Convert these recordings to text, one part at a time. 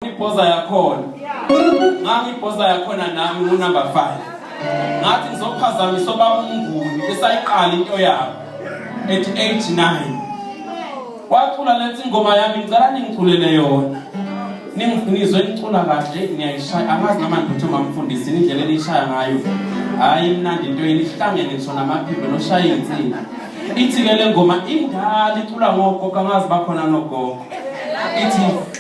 ngibhoza yakhona ngangibhoza yakhona nami ngunumber 5 ngathi ngizophazamisa obaba umnguni esayiqala into yabo at 89 wacula lethi ingoma yami ngicela ningiculele yona ningizwe ngicula kahle ngiyayishaya angazi noma ngiphethe mamfundisi indlela eliyishaya ngayo hayi imnandi into yini ihlangene ngisho namaphimbo noshaya iy'nsini ithi-ke le ngoma indala icula ngogogo angazi bakhona nogogo ithi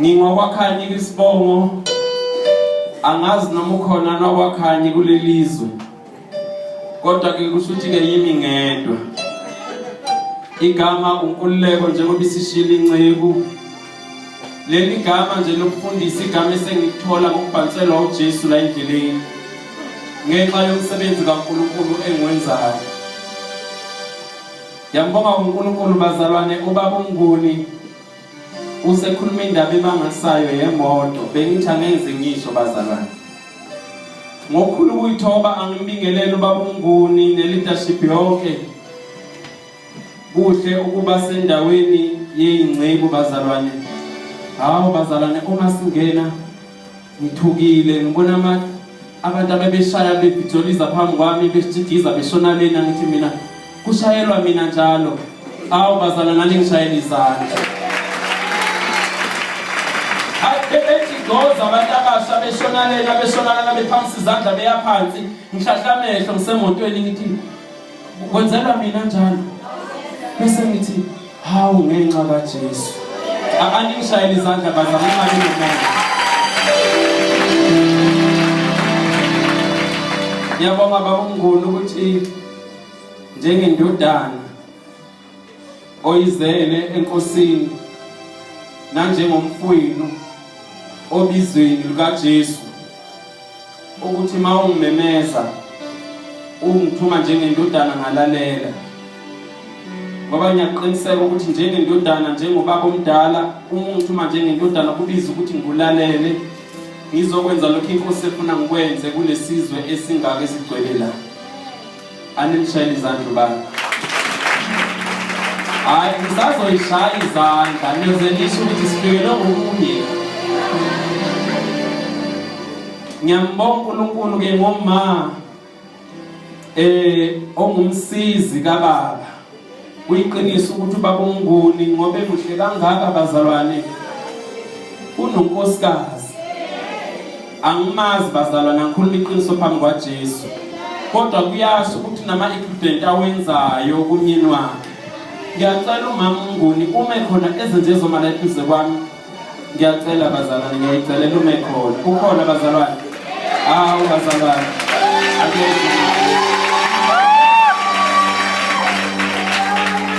Ngingowakhanyi kwisibongo angazi noma ukhona nowakhanyi kulelizwe kodwa ke kusho ukuthi ke yimi ngedwa igama unkululeko njengoba isishila inceku leli gama nje lokufundisa igama esengikuthola ngokubhanselwa uJesu la endleleni ngenxa yomsebenzi kaNkulunkulu engiwenzayo yambonga uNkulunkulu bazalwane ubaba uMnguni Usekhuluma indaba emangasayo yemoto bengithi angenze ngisho bazalwane. Ngokukhulu ukuyithoba angimbingelele ubaba uMnguni neleadership yonke. Kuhle ukuba sendaweni yeyingcebu bazalwane. Hawu bazalwane uma singena ngithukile ngibona ama abantu abebeshaya bebhijoliza phambi kwami besijigiza beshona lena ngithi mina kushayelwa mina njalo awu bazala nani ngishayela izandla bebejigoza abantu abasha beshona lena beshona lena bephamisa izandla beyaphansi ngihlahla amehlo ngisemotweni ngithi Kwenzelwa mina njalo. Bese ngithi hawu ngenxa kaJesu. Aningishayele izandla bazama imali nomoya. Yabonga baba uNguni ukuthi njengendodana oyizele enkosini nanjengomfwenu obizweni lukaJesu ukuthi mawungimemeza ungithuma njengendodana ngalalela ngoba ngiyaqiniseka ukuthi njengendodana njengobaba omdala uma ungithuma njengendodana kubiza ukuthi ngibulalele ngizokwenza lokho inkosi efuna ngikwenze kulesizwe esingaka esigcwele la Animshayele izandla ubani. Hayi ngisazoyishaya izandla niyoze nisho ukuthi sifikelwe ngokunye. Ngiyambonga uNkulunkulu ke ngomama eh ongumsizi kababa Kuyiqiniso ukuthi ubaba uMnguni ngobe muhle kangaka bazalwane. Unonkosikazi. Angimazi bazalwane angikhuluma iqiniso phambi kwaJesu. Kodwa kuyasho ukuthi nama incident awenzayo kumyeni wakhe. Ngiyacela umama uMnguni uma ekhona ezenze zoma la eduze kwami ngiyacela bazalwane ngiyayicelela ume khona ukhona bazalwane hawu bazalwane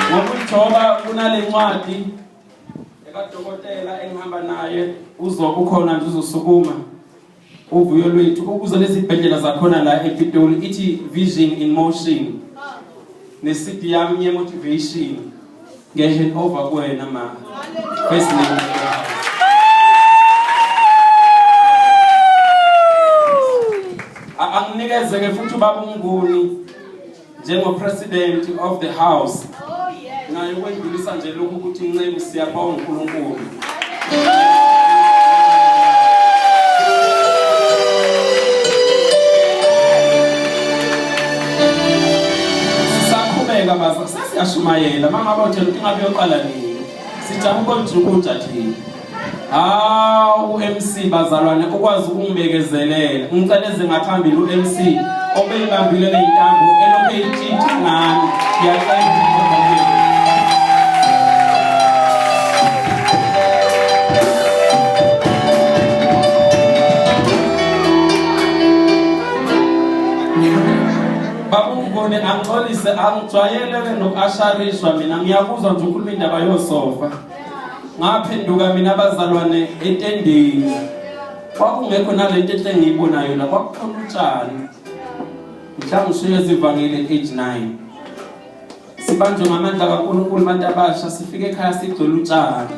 ngokujoba kunale ncwadi ekadokotela engihamba naye uzokukhona nje uzosukuma uvuyo lwethu ukuza nezibhedlela zakhona la epitoli ithi vision in motion nesidi yami yemotivation nge-hand over kuwena ma first name anginikeze-ke futhi ubaba umnguni njengopresident of the house naye ukwedlulisa nje lokhu ukuthi nceku siyabonga uNkulunkulu sisaqhubeka baza sasiyashumayela mama bothe ukuthi ngabe yoqala nini sijabule ukuthi ukunja thina Hawu uMC bazalwane ukwazi ukungibekezelela. Ngiceleze ngaphambili uMC obeyibambile leyintambo elokhe itshitha ngami. Ngiyacela babungibone angixolise angijwayele ke nokuasharishwa mina ngiyakuzwa nje ukhuluma indaba yosofa ngaphenduka mina abazalwane etendeni kwakungekho nalento enhle engiyibonayo la kwakukhona utshani mhlawumbe usuye ezivangile age 9 sibanjwe ngamandla kaNkulunkulu abantu abasha sifike ekhaya sigcwele utshani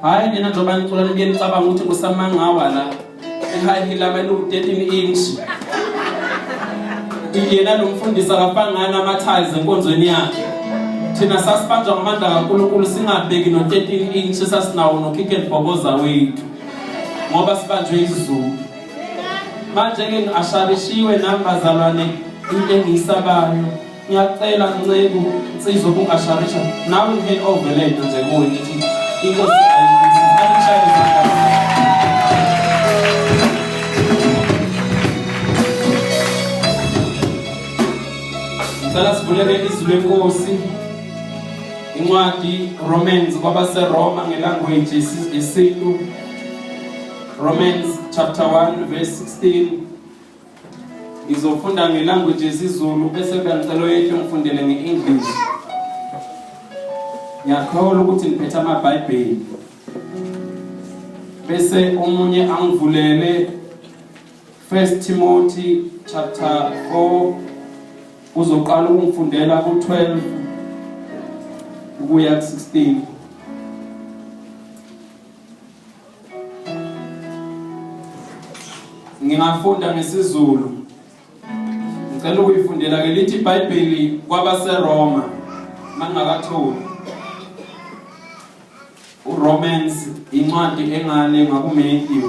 hayi nina njengoba nicula nibuye nicabanga ukuthi kusamangawa la high heel lama eluku 13 inch yena lo mfundisi akafangani ama-tiles enkonzweni yakhe thina sasibanjwa ngamandla kankulunkulu singabheki no-13 inch esasinawo nokhikhe ndibhoboza wethu ngoba sibanjwe izulu manje-ke ngi-asharishiwe nami bazalwane into engiyisabayo Ngiyacela nceku nsizwa ubungasharisha nawe ngihele overland nje kuwe ngithi inkosi ayishaye Ngicela sivulele izwi lenkosi incwadi Romans kwabaseRoma ngelanguage yesintu Romans chapter 1 verse 16 ngizofunda ngelanguage yesizulu bese kuba ngicela oyethu ngifundele nge-english ngiyakholwa ukuthi ngiphethe amabhayibheli bese omunye angivulele first timothy chapter 4 uzoqala ukungifundela ku-12 ukuya ku-16 ngingafunda ngesiZulu ngicela ukuyifundela ke lithi iBhayibheli kwabaseRoma mangakatholi uRomans incwadi engale ngakuMatthew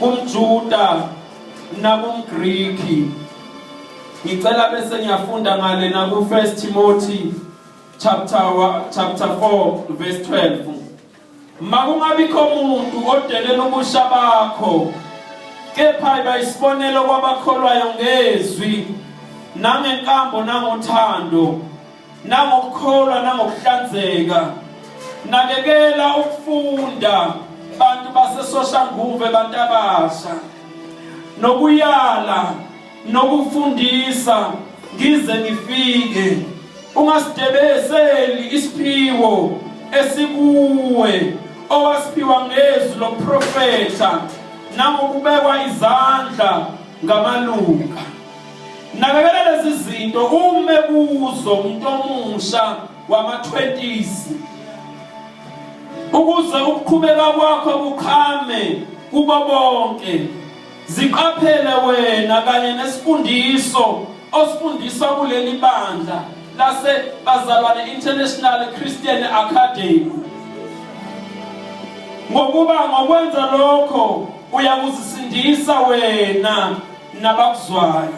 kumJuda nakumGriki. Ngicela bese ngiyafunda ngale na ku 1 Timothy chapter chapter 4 verse 12. Makungabikho umuntu odelela ubusha bakho kepha bayisibonelo kwabakholwayo ngezwi nangenkambo nangothando nangokukholwa nangokuhlanzeka nakekela ukufunda bantu basesoshanguve bantabasha nokuyala nokufundisa ngize ngifike ungasidebeseli isiphiwo esikuwe owasiphiwa ngezwi loprofetha nangokubekwa izandla ngamalunga Nakekela lezi zinto ume kuzo umuntu omusha wama-20s ukuze ukuqhubeka kwakho kuqhame kubo bonke ziqaphele wena kanye nesifundiso osifundiswa kuleli bandla lase Bazalwane International Christian Academy ngokuba ngokwenza lokho uyakuzisindisa wena nabakuzwayo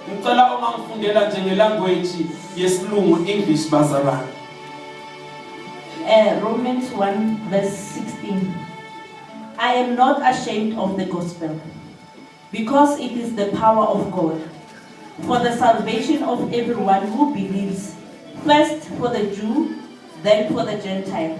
ngicela uma ngifundela nje ngelanguage yesilungu English bazalwane uh, Romans 1 verse 16 I am not ashamed of the gospel because it is the power of God for the salvation of everyone who believes first for the Jew then for the Gentile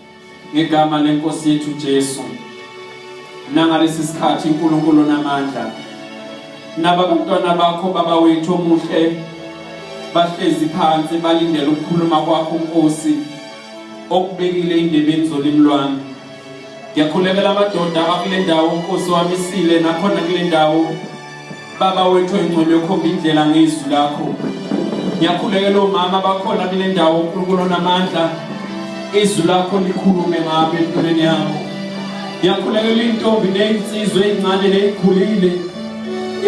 ngegama lenkosi yethu Jesu nangalesi sikhathi uNkulunkulu namandla naba bantwana bakho baba wethu omuhle bahlezi phansi balindele ukukhuluma kwakho Nkosi okubekile indebeni zolimi lwami ngiyakhulekela amadoda akule ndawo Nkosi wamisile nakhona kule ndawo Baba wethu engcwele ukhomba indlela ngezwi lakho. Ngiyakhulekela omama bakhona kule ndawo uNkulunkulu onamandla. Izwi lakho likhulume ngabo empilweni yabo. Ngiyakhulekela intombi nezinsizwe ezincane nezikhulile.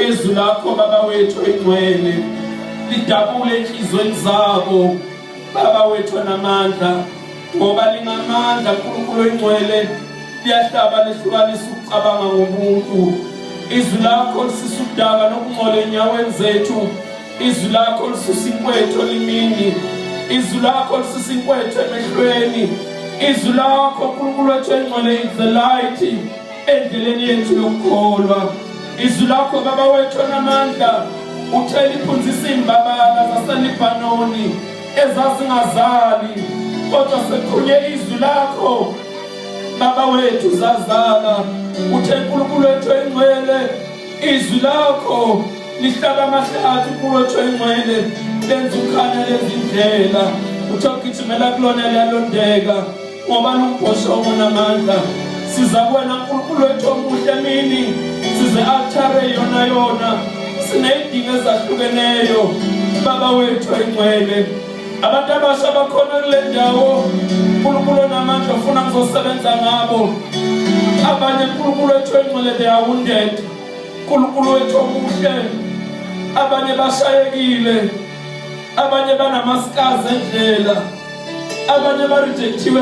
Izwi lakho baba wethu engcwele lidabule inhlizweni zabo. Baba wethu onamandla ngoba lingamandla uNkulunkulu oyingcwele liyahlaba lihlukanisa ukucabanga ngomuntu izwi lakho lisisa udaba nokungcola enyaweni zethu izwi lakho lisusa inkwethu olimini izwi lakho lisusa inkwethu emehlweni izwi lakho unkulunkulu wethu engcwele is the light endleleni yethu yokukholwa izwi lakho baba wethu onamandla uthela iphunzisa imbabala zaselibanoni ezazingazali kodwa sekhunye izwi lakho baba wethu zazala uthe nkulunkulu wethu engcwele izwi lakho lihlaba amahlathi kulo wethu engcwele lenza ukhanya lezindlela uthe ugijimela kulona liyalondeka Ngoba lumbhoshongo namandla siza kuwena nkulunkulu wethu omuhle mini size altare yona yona siney'dingo ezahlukeneyo baba wethu engcwele abantu abasha bakhona kule ndawo nkulunkulu onamandla ofuna ngizosebenza ngabo abanye nkulunkulu wethu engcwele they are wounded nkulunkulu wethu omuhle abanye bashayekile abanye banamaskazi endlela abanye barejektiwe